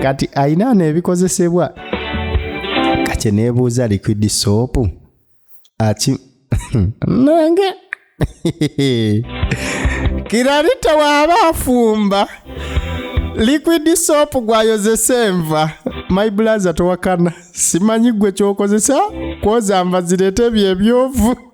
kati ayina nebikozesebwa kakye nebuuza liquid soap aki nange kirarita waaba afumba liquid soap gwayozesa enva my blaza towakana simanyi gwe kyokozesa kwoza nva zireeta ebyo ebyovu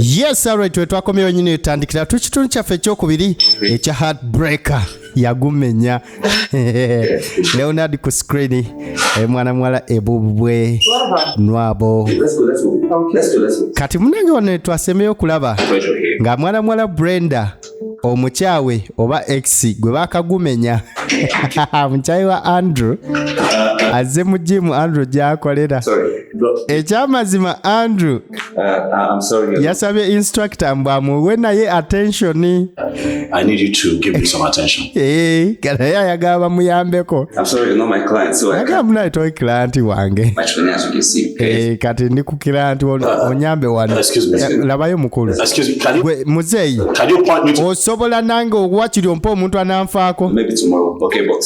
yes alright twetwakomyewo nyini etandikira tu kitundu kyaffe ekyokubiri ekya heartbreaker yagumenya leonard ku screen mwana muwala ebubwe nwabo kati munange wano twasembeyo okulaba nga mwana muwala brenda omukyawe oba x gwe bakagumenya mukyayi wa andrew azze mu jimu andrew gyakolera ekyamazima andrew uh, uh, yasabye instructor mbu amuwe naye attention Eh, kana ye ayagala bamuyambeko agala munaye toi kilanti wange eh, kati ndi ku kilanti uh, uh, onyambe wano eh, labayo mukulu gwe muzeeyi osobola nange owakiri ompa omuntu ananfaako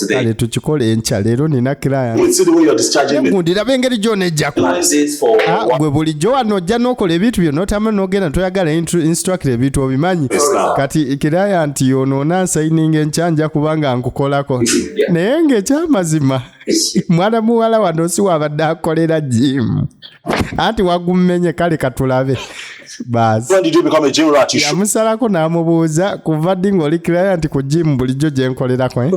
kale tukikole enkya leero nina kilayantigundirabe engeri gyona ejjako ah, gwe bulijjo wano ojja nokola ebintu byonna otama nogenda toyagala instructor ebintu obimanyi kati kiraya nti ono onansayininga enkya nja kubanga nkukolako naye ngaekyamazima mwana muwala wano si wabadde akolera jimu anti wagummenye kale katulabe yamusalako n'amubuuza kuva ddi ng'oli kiraya nti ku jimu bulijjo gye nkolerako eh?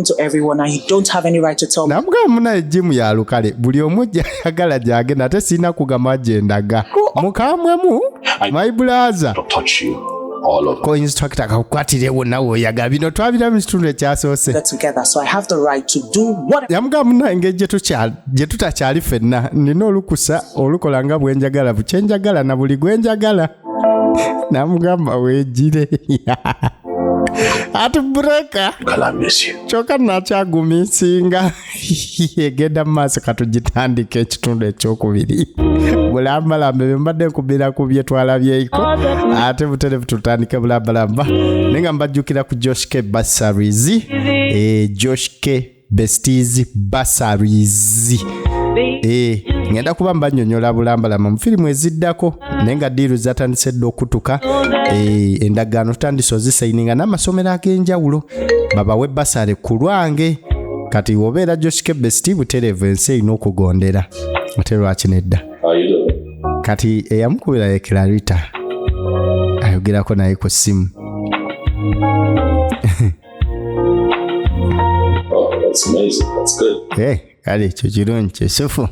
namugamba munaye jimu ya lukale buli omu gyayagala gyagenda ate sirina kugamba gyendaga mukamwemu maibulaza all over. ko instructor akakukwatirewo nawe oyagala bino twabira mu kitundu ekyasoose Get together, so I have the right to do what yamugamba munange gye tukya- gye tutakyali fenna nina olukusa olukola nga bwenjagala bukyenjagala na buli gwenjagala namugamba wegire ati bureka Girl, I miss you. kyoka nakyagumisinga egenda mu maaso katugitandika ekitundu ekyokubiri bulambalamba ebyo mbadde nkubira ku bye twalabyeiko ate buterevu tutandike bulambalamba naye nga mbajjukira ku josh k basaries eh, josh k besties basaries eh, ngenda kuba mbanyonyola bulambalamba mu firimu eziddako naye nga diiru zatandise dda okutuka eh, endagaano tutandise ozisayininga n'amasomero ag'enjawulo babawe basale ku lwange kati obeera joshikebe sti butereevu ensi erina okugondera ate lwaki nedda kati eyamukubira ye clarita ayogerako naye ku ssimu oh, that's amazing. That's good. Hey. Eh, kale ekyo kirungi kyesufu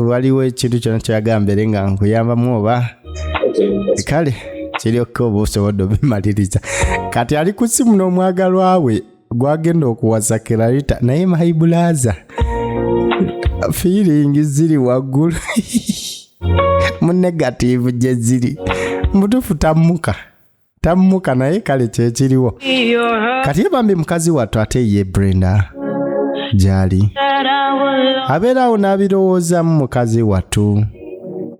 waliwo ekintu kyona kyagambere nga nkuyambamu oba kale kiri okka oba osobodde obimaliriza kati ali ku simu n'omwagalwa we gwagenda okuwasa kirarita naye maibulaza feeling ziri waggulu mu negative gye ziri mutufu tammuka tamumuka naye kale kyekiriwo kati ye bambi mukazi wattu ate ye brenda gyali abeera awo n'abirowoozaamu mukazi wattu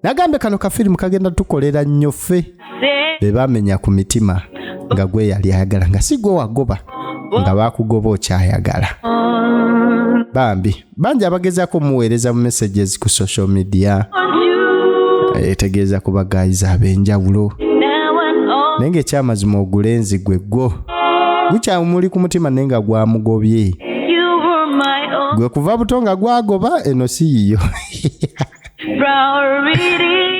nagambye kano kafirimu kagenda tukolera nnyo ffe be bamenya ku mitima nga gwe yali ayagala nga si gwe wagoba nga bakugoba okyayagala bambi bangi abagezaako omuweereza mu messages ku social media etegeeza ku bagayizi ab'enjawulo naye ng'ekyamazima ogulenzi gwe gwo gukyamuli ku mutima naye nga gwamugobye gwe kuva buto nga gwagoba eno si yiyo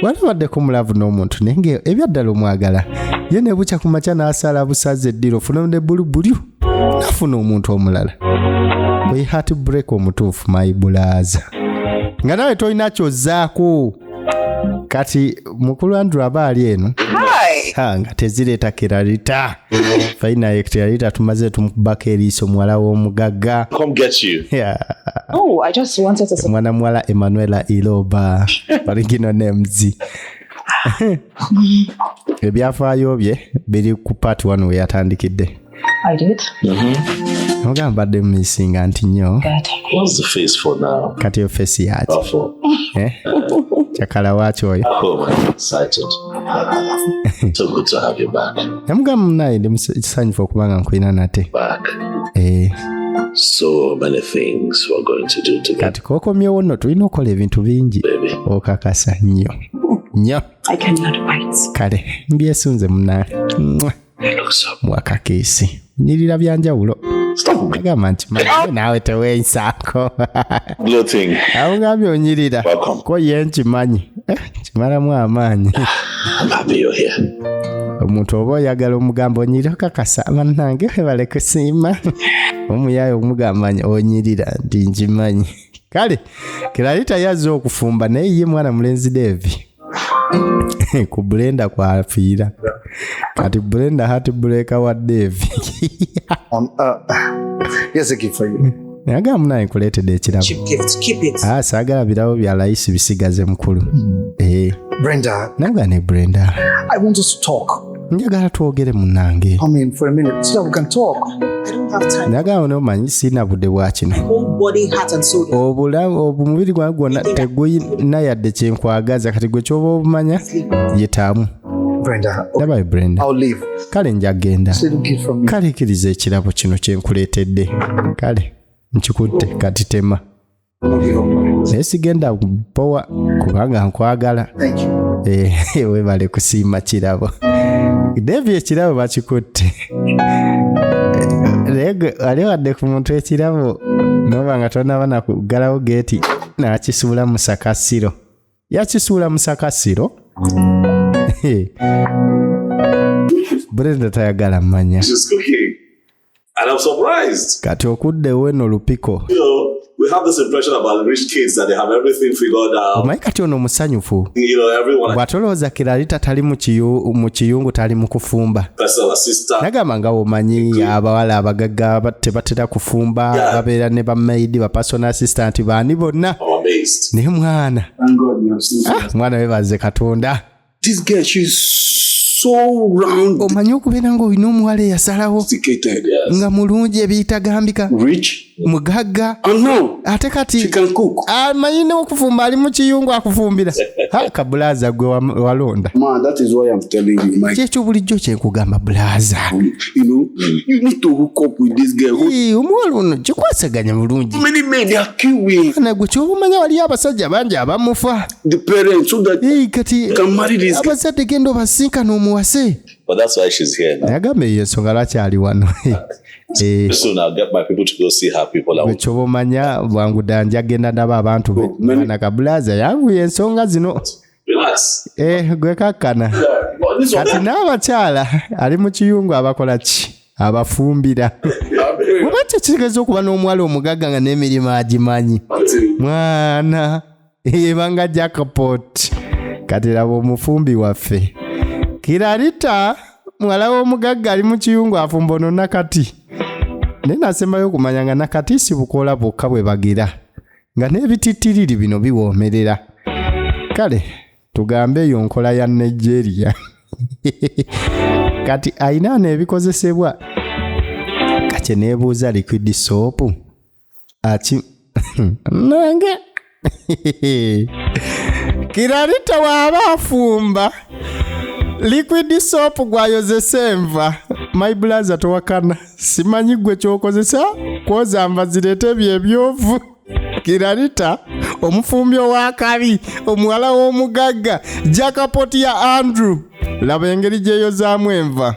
wali baddeko mulavu n'omuntu naye nga ebyaddala omwagala ye ne bukya ku makya n'asala busaza eddiro ofuna ne bulu bulyu nafuna omuntu omulala bwe hat break omutuufu mayi bulaaza nga nawe tolina kyozaako kati mukulu andrew aba ali eno nga tezireeta kiralita faina ye kiralita tumaze tumukubako eriiso muwala w'omugagga oh, mwana muwala emanuela iloba origino names ebyafaayo bye biri ku part one weyatandikidde oga mbadde mumisinga nti nyo kati yo fesi yaki eh? cakala waki oyo oh, namugamba munaye ndi kisanyufu okuba nga nkulina nate eh. kati kokomyewo no tulina okukola ebintu bingi okakasa nyo nyo kale mbyesunze munaye mwakakeesi nyirira bya njawulo agamba nti naawe tewensaako awugambye onyirira ko ye nkimanyi eh, kimalamu amaanyi omuntu oba oyagala omugamba onyirira okakasa banange webale kusiima omuyaye omugamba onyirira nti nkimanyi kale kirali tayazze okufumba naye ye mwana mulenzi devi ku blenda kwafiira kati blenda hat breaker wa devi um, uh, nagamba munaye nkuleetedde ekirabo ah, saagala birabo bya layisi bisigaze mukulu hmm. eh. naga ne brenda njagala twogere munange Come in for a minute so that we can talk. I don't have time. njagala one omanyi sirina budde bwa kino Whole body, heart, and soul. obulamu omubiri gwange gwonna tegulina yadde kyenkwagaza kati gwe kyoba obumanya yetaamu Brenda, okay, ndabayo brenda I'll leave. kale nja genda It's a little gift from you. kale kiriza ekirabo kino kyenkuleetedde kale nkikutte kati tema naye sigenda powa kubanga nkwagala eh, webale kusiima kirabo devi ekirabo bakikutte naye gwe wali wadde ku muntu ekirabo noba nga tonaba nakuggalawo geeti nakisuula musakasiro yakisuula musakasiro brenda tayagala manya And I'm surprised. Kati okudde we no lupiko. You know, we have this impression about rich kids that they have everything figured out. Omanyi kati ono musanyufu. You know, everyone. Bwatolooza kirali tatali mu kiyu mu kiyungu tali mu kufumba. Personal assistant. Nagamba nga omanyi abawala abagagga tebatera kufumba yeah. babeera ne bamaidi ba personal assistant baani bonna. Naye mwana. Ah, mwana webaze Katonda. This girl, she's so round. Omanyi okubeera nga olina omuwala eyasalawo nga mulungi ebiyitagambika mugagga ate kati amanyi nokufumba ali mukiyungu akufumbira ka bulaza gwe walonda kyekyo bulijjo kyenkugamba bulaza omuwala ono kikwasaganya bulungi nagwe kyoba omanya waliyo abasajja bangi abamufa the parents so that hey, kati abazadde genda obasinkana omuwase But that's why she's here now. Nagambe ye songa lwaki ali wano. Eh. So now get my people to go see her people. Ekyobo manya bwangu danja genda ndaba abantu be. Oh, Mwana kabulaza yangu ye nsonga zino. Relax. Eh gwe kakana. Kati n'abakyala ali mu kiyungu abakola ki? abafumbira oba kyekitegeeza okuba n'omuwala omugagga nga n'emirimu agimanyi mwana ebanga jackpot kati laba omufumbi waffe kirarita muwala w'omugagga ali mu kiyungu afumba ono nakati naye nasembayo okumanya nga nakati sibukoola bwokka bwe bagira nga n'ebitittiriri bino biwoomerera kale tugambe eyo nkola ya nigeria kati ayina neebikozesebwa kakye neebuuza liquid soopu aki nange kiralita waaba afumba liquid soap gwayozesa enva my blaza towakana simanyi gwe kyokozesa kwoza nva zireeta ebyo ebyovu kiralita omufumbi ow'akabi omuwala w'omugagga jakapoti ya andrew laba engeri gyeyozaamu enva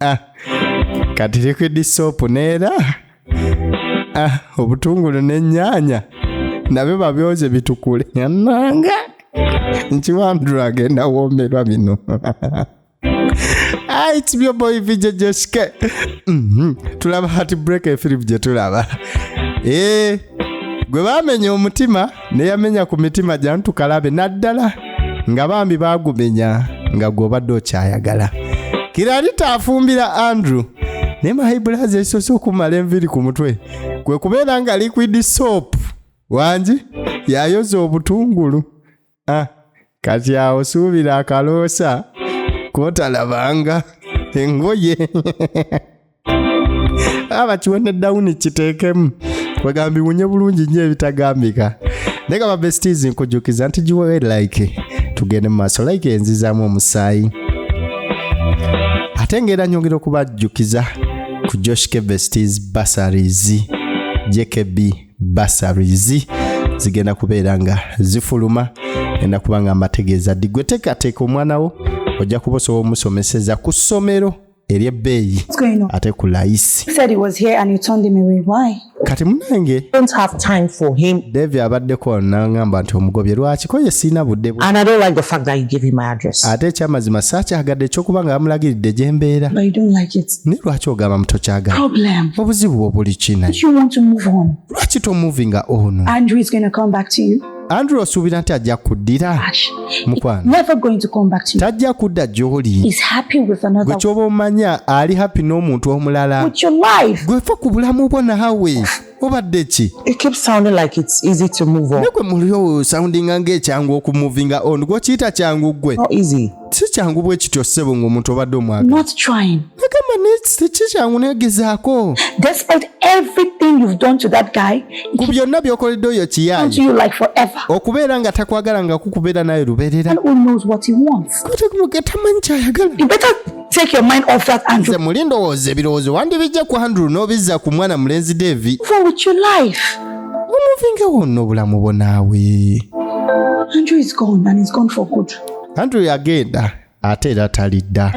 Ah, kati liquid soap neera ah, obutungulu n'ennyanya nabyo babyoze bitukule yananga nkiwandula agenda woomerwa bino Ah, it's your boy VJ Joshke. Mhm. Tulaba heartbreak efirimu gye tulaba. Eh, gwe baamenya omutima ne yamenya ku mitima gya ntukalabe naddala nga bambi baagumenya nga gw'obadde okyayagala kiralita afumbira andrew naye mahibulazi ekisoose okumala enviri ku mutwe kwe kubeera nga liquid soap wangi yayoza obutungulu ah, kati awo suubira akaloosa kotalabanga engoye abakiwe ne dawuni kiteekemu kwegamba biwunye bulungi nnyo ebitagambika naye nga babestis nkujukiza nti giwe like tugende mu maaso like enzizaamu omusaayi ate ngaera nyongera okubajjukiza ku josh kebestis basaries jkb basaries zigenda kubeera nga zifuluma enda kuba nga mbategeeza ddi gwe teekateeka omwana wo ojja kuba osobola omusomeseza ku ssomero eryebbeeyi ate ku layisi kati munange devi abaddeko nangamba nti omugobye lwakiko ye siina budde ate ekyamazima saakyagadde ekyokuba nga bamulagiridde gye mbeera naye lwaki ogamba mutokyagala obuzibu bwo buli kina lwaki tomuvinga ono Andrew osuubira nti ajja kuddira mukwanotajja kudda gy'oli gwe kyoba omanya ali happy n'omuntu omulala gwefa ku bulamu bwo nawe obadde ki negwe mulio soundinga ng'ekyangu okumuvinga on gwokiyita kyangu gwe si kyangu bwe kityo ssebo ng'omuntu obadde omwagala nagamba si kyangu negezaako ku byonna by'okoledde oyo kiyaaye okubeera nga takwagala nga kukubeera naye lubeerera tamanyi kyayagala take your mind off that Andrew. Nze muli ndowooza ebirowoozo wandibijja ku Andrew n'obizza ku mwana mulenzi Devi. For with your life. Omuvingewo nno obulamu bwo naawe. Andrew is gone and he's gone for good. anti oyo agenda ate era talidda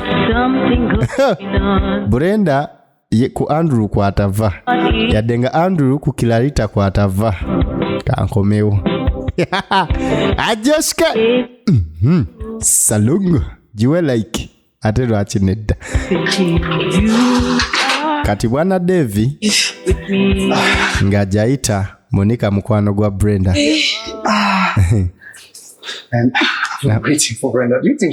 brenda ye ku andrew kwatava yadde nga andrew ku kilarita kwatava kankomewo ajoske mhm. salungu giwe like ate lwaki nedda kati bwana devi nga jayita monika mukwano gwa brenda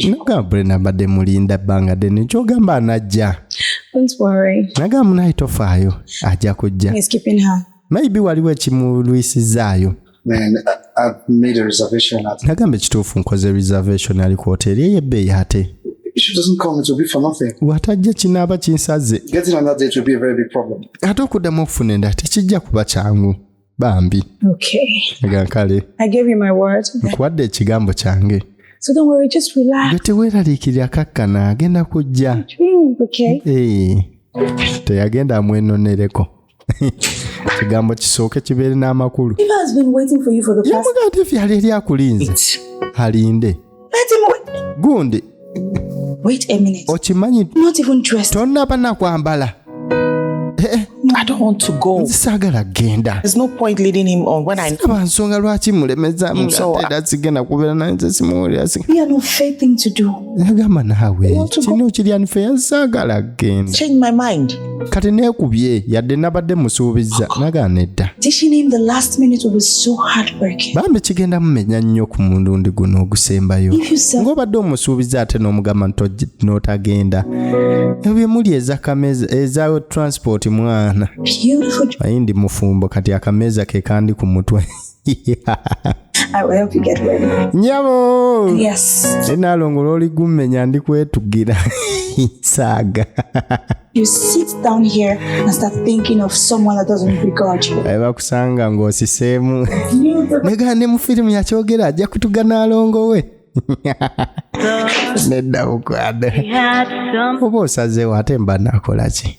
nogamba brenda mbadde mulinda bbanga dene kyogamba anajja nagamba munaye tofaayo ajja kujja maybe waliwo ekimulwisizaayo nagamba ekituufu nkoze reservation ali ku hoteeri eyo ebbeeyi ate watajja kinaaba kinsaze ate okuddamu okufuna endala tekijja kuba kyangu bambi gankale nkuwadde ekigambo kyange teweeraliikirira akakkana agenda kujja teyagenda amwenonereko ekigambo kisooke kibeere n'amakulu namuga nti efi ali eri akulinze alinde gundi okimanyi tonaba nakwambala eh, eh. nzisaagala genda siraba nsonga lwaki mulemezamu era sigenda kubeera naye nze simuwulira agamba naawe kino kiryanifeya nsaagala genda kati neekubye yadde nabadde musuubizza nagaana edda bambi kigenda mumenya nnyo ku mulundi guno ogusembayo ng'obadde omusuubiza ate n'omugamba n'otagenda ebyo byemuli ezakameeza eza transport mwana ayi ndi mufumbo kati akameeza ke kandi ku mutwe nyabo enaalongo lwoli gummenya ndi kwetugira saaga bakusanga ng'osiseemu nega ne mu firimu yakyogera ajja kutuga naalongo we nedda bukwade oba osazeewo ate mba nakolaki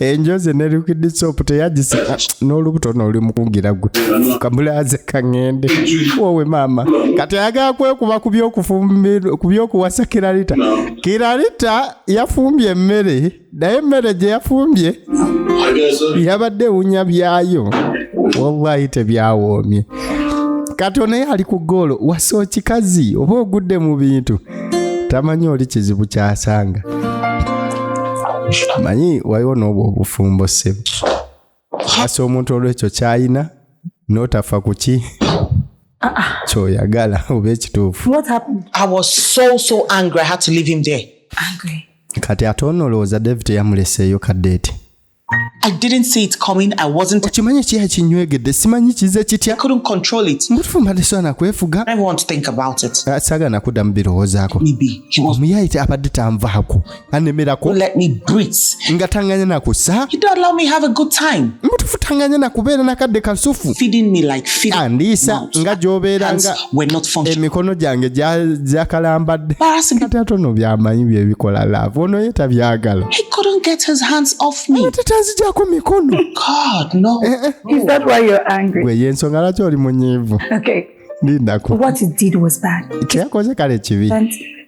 enjoze nerikidisopu teyagisa ah, n'olubuto noli mukungira gwe kamulaze kaŋende wowe maama kati ayagala kwekuba ku byokuwasa kiralita kiralita yafumbye emmere naye emmere gye yafumbye yabadde ewunya byayo wallahi tebyawoomye kati onaye ali ku goolo wasa okikazi oba ogudde mu bintu tamanyi oli kizibu kyasanga manyi waliwo n'obwo obufumbo ssebo asa omuntu olwekyo kyayina n'otafa ku ki kyoyagala oba ekituufu kati ate onoolowooza david yamuleseeyo kadeeti I didn't see it coming. I wasn't. Okimanyi ekiya kinywegedde simanyi kize kitya. I couldn't control it. Mbutufu mbadde swana kwefuga. I want to think about it. Uh, saga nakuda mbirowozaako. Maybe he was. Omuyayi abadde tanvaako. Anemerako. Let me breathe. Nga tanganya na kusa. He don't allow me have a good time. Mbutufu tanganya na kubeera na kadde kasufu. Feeding me like feeding. Andiisa nga gyobeera nga. were not functioning. Emikono gyange gyakalambadde kati ate ono byamanyi byebikola laavu ono ye tabyagala tatazijako mikono gwe yensonga lwaki oli munyiivu lindaku kyeyakoze kale kibi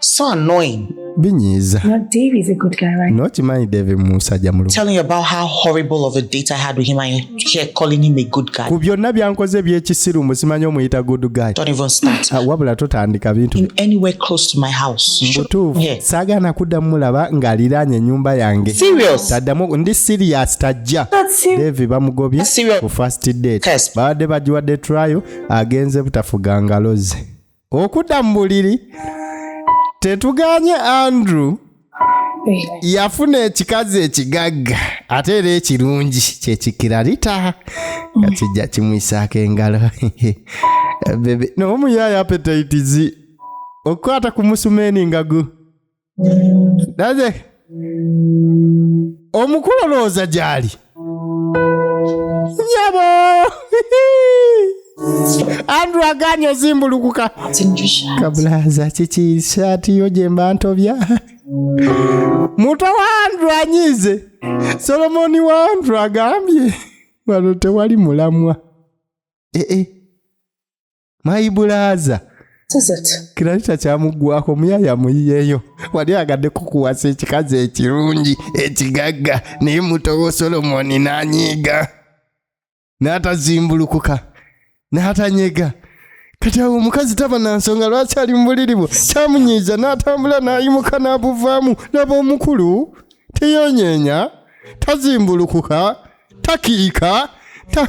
So annoying. Binyiza. No, Dave is a good guy, right? No, Chimani Dave Musa Jamulu. Telling you about how horrible of a date I had with him and here calling him a good guy. Ku byonna byankoze eby'ekisiru musimanyi omuyita good guy. Don't even start. Uh, wabula totandika bintu. In anywhere close to my house. Mbutuufu. Yeah. Saagaana kuddamu mulaba ng'aliraanye ennyumba yange. Serious. Taddamu ndi serious tajja. Dave bamugobye ku first date. Babadde bagiwadde trial agenze butafuga ngalo ze. okudda mu buliri tetuganye andrew yafuna ekikazi ekigagga ate era ekirungi kyekikirarita nga kijja kimwisaako engalo bebe naye omuyaayo apetaitizi okukwata ku musumeni nga gu naze omukulu olowooza gyali nyabo andrew aganye ozimbulukuka kabulaza kiki saati yo gyemba ntobya muto wa andrew anyiize solomoni wa andrew agambye wano tewali mulamwa ee eh, eh. mayibulaaza kirali takyamuggwako muyaya muyiyeeyo wali agadde kukuwasa ekikazi ekirungi ekigagga naye mutowo solomoni n'anyiiga n'atazimbulukuka n'atanyega kati awo omukazi taba na nsonga lwaki ali mu buliri bwo kyamunyiiza n'atambula n'ayimuka n'abuvaamu laba omukulu teyonyeenya tazimbulukuka takiika ta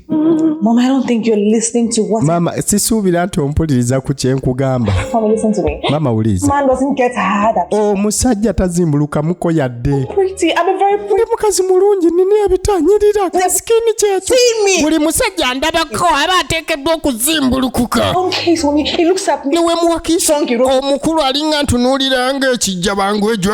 Mom, I don't think you're listening to what Mama, sisuubira nti ompuliriza ku kye nkugamba. Mama, listen to me. Mama, wuliriza. Man doesn't get hard at all. Omusajja tazimbulukamuko yadde. Pretty, I'm a very pretty. Ndi mukazi mulungi, nina ebitanyirira, ka skin kyekyo. See me. Buli musajja andabako aba ateekeddwa okuzimbulukuka. Okay, so he looks at me. Niwe muwakiisa omukulu alinga ntunuulira ng'ekijja bangu ejo.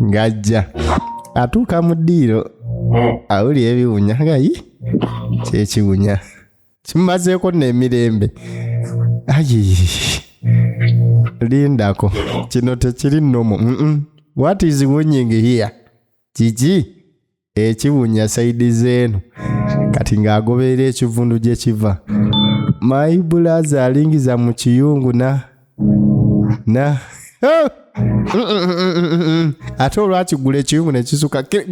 ng'ajja atuuka mu ddiiro awuli ebiwunya gayi kyekiwunya kimumazeeko n'emirembe ayi lindako kino tekiri nomu what is winning here kiki ekibunya saidi zeeno kati ng'agoberera ekivundu gye kiva mayi bulaza alingiza mu kiyungu na na ate olwakigula ekiyungu ne kisuka gwe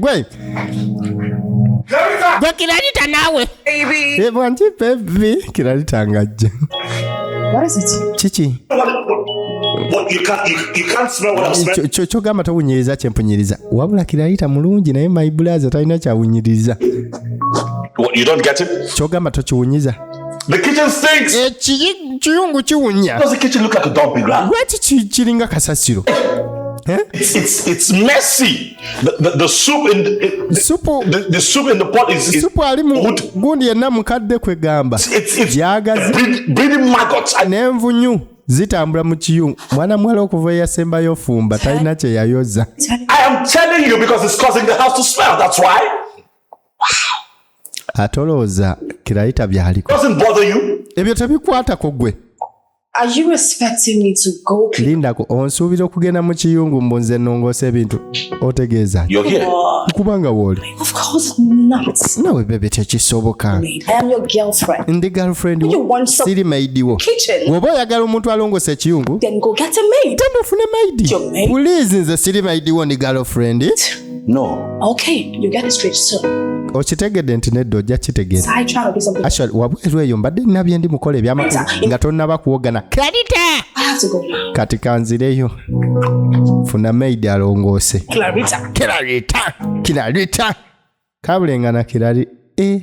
gwe kiralita naawe baby. Ye bwanji baby kiralitangajja. What is it? Kiki? kyogamba towunyiriza kyempunyiriza wabula kirayita mulungi naye my blaza talina kyawunyiriza kyogamba tokiwunyiza ekiyungu kiwunya lwaki kiringa kasasiro eh? It's, it's, it's messy. The, the, the soup in the, the, soup, the, the soup in the pot is, is soup ali mu gundi yenna mukadde kwegamba gyagazi n'envunyu zitambula mu kiyungu mwana muwala okuva eyasembayo ofumba talina kye yayoza atolooza kirayita byaliko ebyo tebikwatako gwe lindako onsuubira okugenda mu kiyungu mbu nze nongoosa ebintu otegeeza kubanga wooli nawe bebe tekisoboka ndi girlfriend siri maidi wo woba oyagala omuntu alongoosa ekiyungu temufune maidi pulizi nze siri maidi wo ndi girlfriend No. Okay, you get it straight soon. okitegedde nti nedda ojja kitegeera actually wabweru eyo mbadde nina bye ndi mukola ebyamakulu nga tonnaba kuwogana clarita kati kanzireyo funa maid alongoose clarita clarita kabulenga na kirali e eh.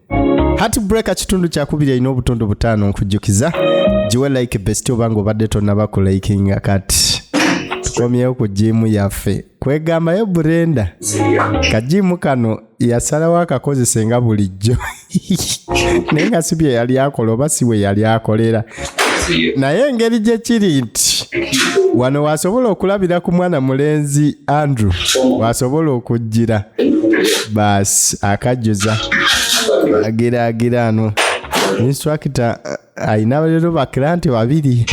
hatbreaker kitundu kyakubiri alina obutundu butaano nkujjukiza giwe like best obanga obadde tonaba ku likinga kati tukomyewo ku jiimu yaffe kwegambayo burenda kajiimu kano yasalawo akakozese nga bulijjo naye nga si bye yali akola oba si we yali akolera naye engeri gye kiri nti wano wasobola okulabira ku mwana mulenzi andrew wasobola okujjira baasi akajjuza agiraagira ano instructa uh, alina lero bakiranti babiri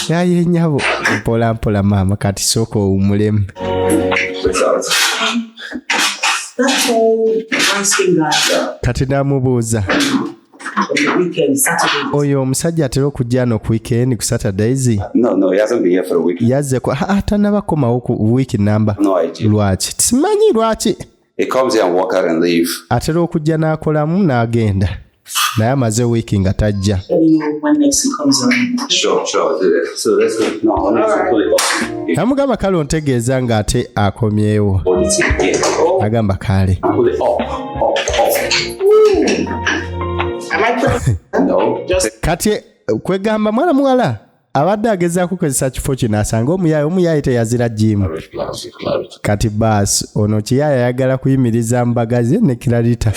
yaye nyabo mpola mpola maama kati sooka owumulemu kati namubuuza oyo omusajja atera okujja no ku weekend ku saturdays yazze atanaba komawo ku week number lwaki simanyi lwaki atera okujja n'akolamu n'agenda naye amaze wiiki nga tajja namugamba kale ontegeeza ng'ate akomyewo agamba kaale kati kwegamba mwana muwala abadde agezaako kukozesa kifo kino asanga omuyaaye omuyaaye teyazira jimu kati baasi ono kiyaaye ayagala kuyimiriza mbaga ze ne kiralita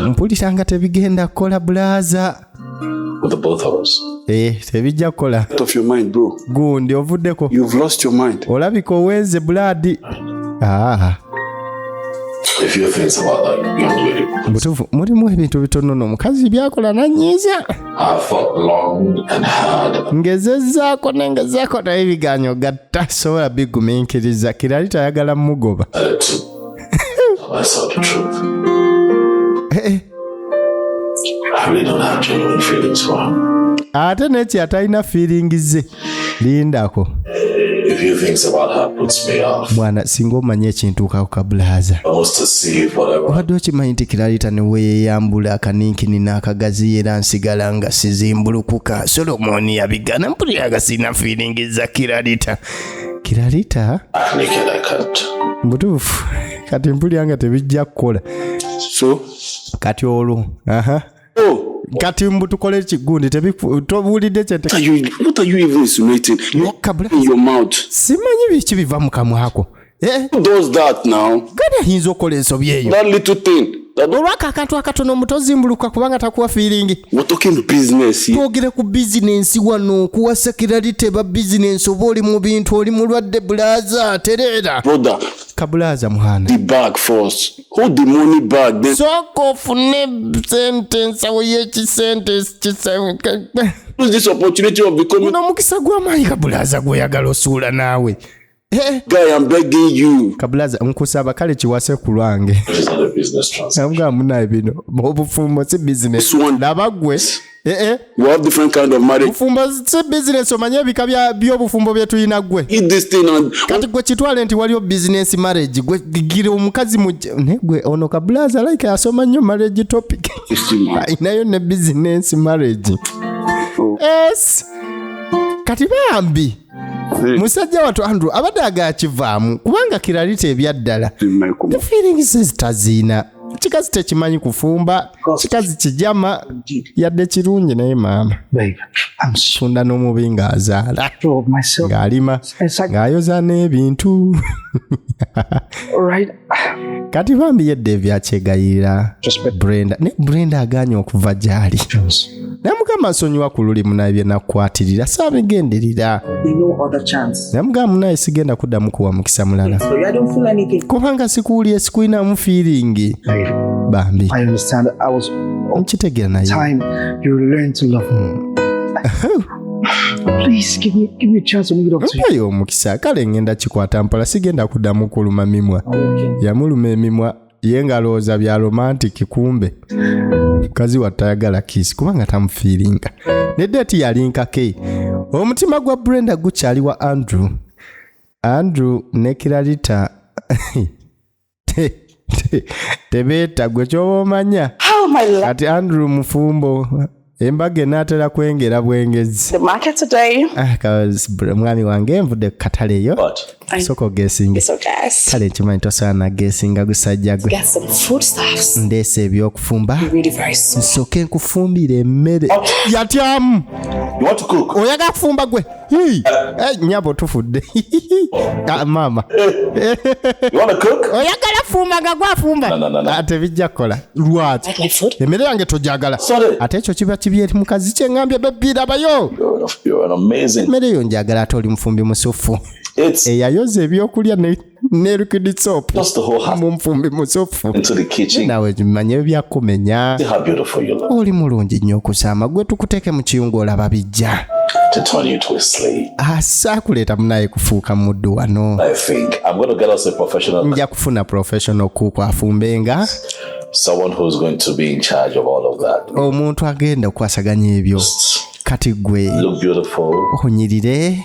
mpulira nga tebigenda kukola bulaaza with the both of us. Eh, tebijja kukola. Out of your mind, bro. Gundi ovuddeko. You've lost your mind. Olabika owenze blood. Ah. If you think about that, you don't do it. Butufu, mulimu ebintu bitono no mukazi byakola nanyiza. I fought long and hard. Ngezezaako nengezaako naye biganyo gatta sobola bigumiikiriza kirali tayagala mugoba. Uh, ate neki atalina feeling ze lindako bwana singa omanya ekintuukako kabulahaza obadde okimanyi nti kiralita neweyeyambula akaninkini n'akagazi era nsigala nga sizimbulukuka solomoni yabigana mpulira nga sirina feeling za kiralita kiralita mutuufu kati mpulira nga tebijja kukola so kati olwo aha oh. kati mbu tukole ekigundi tobuulidde kyesimanyi biki biva mu kamwako eh? ayinza okola ensobi eyo olwako akantu akatono mutozimbuluka kubanga takuwa firingi twogere ku bizinensi wano okuwa sekiralite ba bizinensi oba oli mu bintu oli mulwadde bulaza tereera kabulaza muhana sooka ofune sente ensawo yekisente uno omukisa gwamaanyi kabulaza gwoyagala osuula naawe Eh. Guy, I'm begging you. Kablaza, nkusaba kale kiwase ku lwange. Nabwa munaye bino. Obufumbo si business. Nabagwe. Eh eh. You have different kind of marriage. Bufumbo si business omanye ebika bya byo bufumbo bye tuyina gwe. Eat this thing and Kati gwe kitwale nti waliyo business marriage. Gwe gigire omukazi mu ne gwe ono kablaza like asoma nnyo marriage topic. Inayo ne business marriage. Oh. Yes. Kati bambi. Eh. musajja watu andrew abadde agakivaamu kubanga kiralita ebyaddala the feelings ezitaziina kikazi tekimanyi kufumba kikazi kijama yadde kirungi naye maama sunda n'omubi ng'azaala ng'alima ng'ayoza n'ebintu kati bambi yedda ebyakyegayirira brenda ne brenda aganye okuva gyali naye mugamba nsonyiwa ku luli munaye byenakukwatirira saabigenderera naye mugamba munaye sigenda kuddamu kuwa mukisa mulala kubanga sikuwulire sikulinamu fiiringi bambi nkitegeera naye mpayo omukisa kale ngenda kikwata mpola sigenda kuddamu kuluma mimwa yamuluma emimwa ye ngalowooza bya romantic kumbe mukazi wa tayagala kiisi kubanga tamufiiringa ne deeti yalinkake omutima gwa brenda gukyali wa andrew andrew ne kiralita tebeeta gwe kyoba omanya kati andrew mufumbo embaga enaatera kwengera bwengezi ah, mwami wange nvudde ku katale eyo soka ogesinge kale nkimanyi tosobola nagesinga gusajja gwe ndeesa ebyokufumba nsooke nkufumbira emmere yatyamu oyagala kufumba gwe Hii. Eh, nyabo tufudde Ah, maama You want to cook? oyagala fumba nga gwafumba No, no, no, no. Ah, tebijja kukola lwaki Like my food? emmere yange togyagala Sorry. ate ekyo kiba kibi eri mukazi kyengambye bebirabayo You're an, you're an amazing. emmere yo njagala ate oli mufumbi musuffu It's eyayoza ebyokulya ne- nerukidi sopu mumfumbi musofu nawe manya ebyakumenya oli mulungi nnyo okusaama gwe tukuteke mu kiyungu olaba bijja asaakuleeta ah, munaye kufuuka muddu wano nja kufuna professional kuku afumbenga someone who's going to be in charge of all of that omuntu agenda okukwasaganya ebyo kati gwe onyirire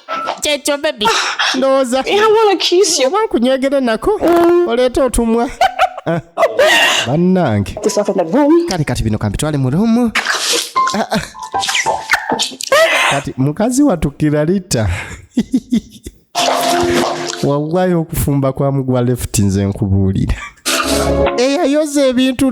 kyekyo bebi ndowooza oba nkunyegere nako mm. oleeta otumwa ah. bannange kale kati bino kampitwale mu rumu ah, ah. kati mukazi watukira lita wawayo okufumba kwa mugwa left nze nkubuulira eyayoza ebintu